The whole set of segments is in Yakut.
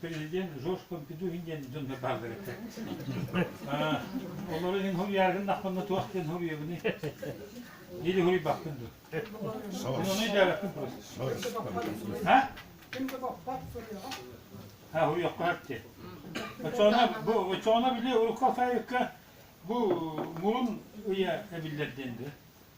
президент Жорж Помпедухин диэн дьон бааллар этэ. Олору иһин суруйааргын дахпынна туох диэн суруйабыный? Или суруйбаппын дуу? Оны дәбәппин просто. Ha? Ha суруйохха әпте. Очоона бу очоона били урукка сайыкка бу мурун ыя эбиллер денді.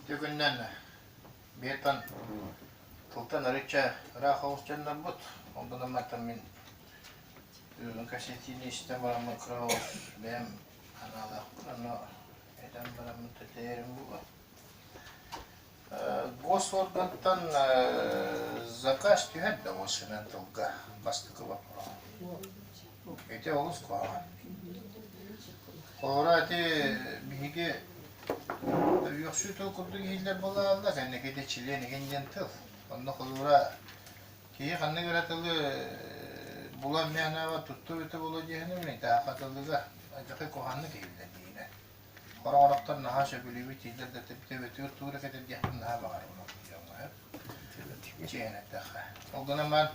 Ити күннэн бертон тылтан арычча ыраах оҕус дьоннорбут. Ол да намматтан мин бүгүн кассетиini истэн бараммын кыраҕас бэйэм анаалаахпын, ону этэн бараммын тэтэрим була. Госоргантан заказ түһэр да машинан тылга бастакы вопрос. Ити олус хооро. Хооро ити биһиги үөхсүү тыл курдук иһиллэр буолалла, сэннэкийде чилиэн иһин диэн тыл. Онно холуура киһи ханна кыра тылы булан мээнэҕэ тутту бөтө боло диэхинэ, мен тааха тылыга, адьакы куһанны киһиллэ диинэ. Хороорохтор наһаа сөбүлүүбүт, тиийдэр да эбэтигэр туура кэтэрдиэхпин наһаа баҕарар умулгуйуоҥҥа. Чиэһинэттэххэ. Ол гынан баран,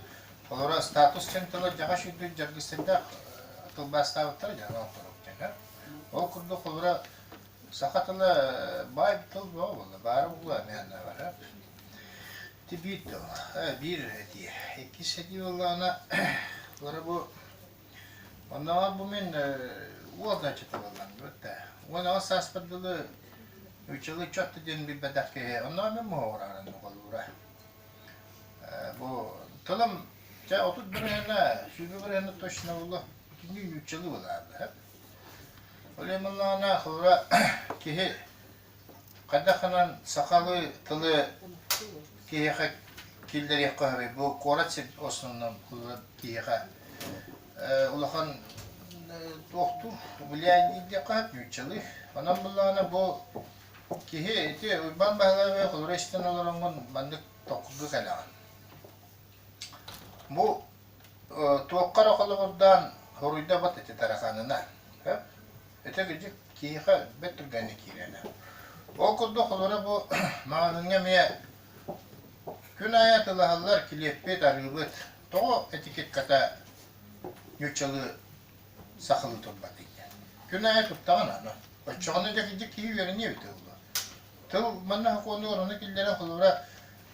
холоро статус чанталар дьаҕаш үрдүк дьаргыстардаах тылбаастаабыттара дьаһана оҥоторук дьаһана. Ол курдук холоро саха тыла баай тыл бөҕө буолла, баара буолла эмиэннээҕэ. Ити биир тыл, биир этии. Иккис этии буоллаҕына, холоро бу Оннооҕор бу мин уолдан чытылылланныбыт да. Уонна сааспар дылы үч жыл ыччатта диэн билбэтэх киһи оннооҕор мин моһоҕораарын нугалуура. Бу тылым дьэ отут бырыһына, сүүрбэ бырыһына точно булла. Итинник үч жылы булааллар. Ол иммуннаана хора киһи Хайдах гынан сахалыы тылы киһиэхэ киллэриэххэ сөбүй? Бу куорат сир основном ылар киһиэхэ э, улахан э, туохтуур влияние диэххэ сөп нууччалыы. Онон буллаҕына бу киһи ити Уйбаан Баһылаабы холура истэн олороҥҥун маннык токкуга кэлэҕин. Бу туохха эрэ холобурдаан хоруйда бат ити тараханына ити гидьик киһиэхэ бэт түргэнник киирэнэ ол курдук холура бу маҕаһыыҥҥа эмиэ күн аайы атылаһаллар килиэппит арыыбыт тоҕо этикетката ньуччалыы сахылыы турбатый күн аайы туттаҕын аны оччоҕуна дьэ киһи үөрэниэ эбитэ буолуо тыл манна сокуону оруну киллэрэн холобура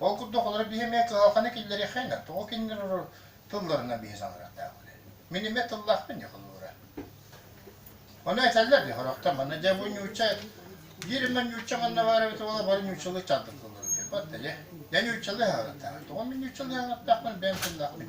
Ол курдук олору биһи эмиэ кыһалҕаны киллэриэххэ тоҕо кинилэр тылларынан биһи саҥарардаахпыт. Мин эмиэ тыллаахпын дии холобура. Ону этэллэр дии сорохтор манна дьэ бу ньууча биир эмэ ньууча манна баар эбит уола бары ньуучалыы чалдыктыллар диир. Батта дьэ. Дьэ ньуучалыы саҥараттаах. Тоҕо мин ньуучалыы саҥараттаахпын бэйэм тыллаахпын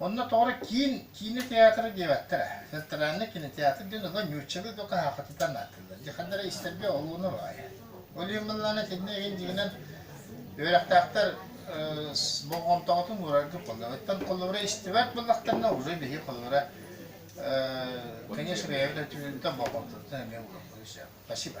Онно тоҕо киин киинэ театра диэбэттэрэ. Театральный кинотеатр диэн оҕо ньууччалыы да хаһаахатытан ааттыыллар. Дьэ хандара истэргэ олууна баайа. Ол иһин быллаана итиннэ игин дигинэн үөрэхтээхтэр болҕомтоҕутун уураргын холлоруттан холлорура истибэт буллахтарына уже биһи холлорура конечно бэйэбит өтүгүнтэ болҕомтотутан эмиэ уураргын сөп. Спасибо.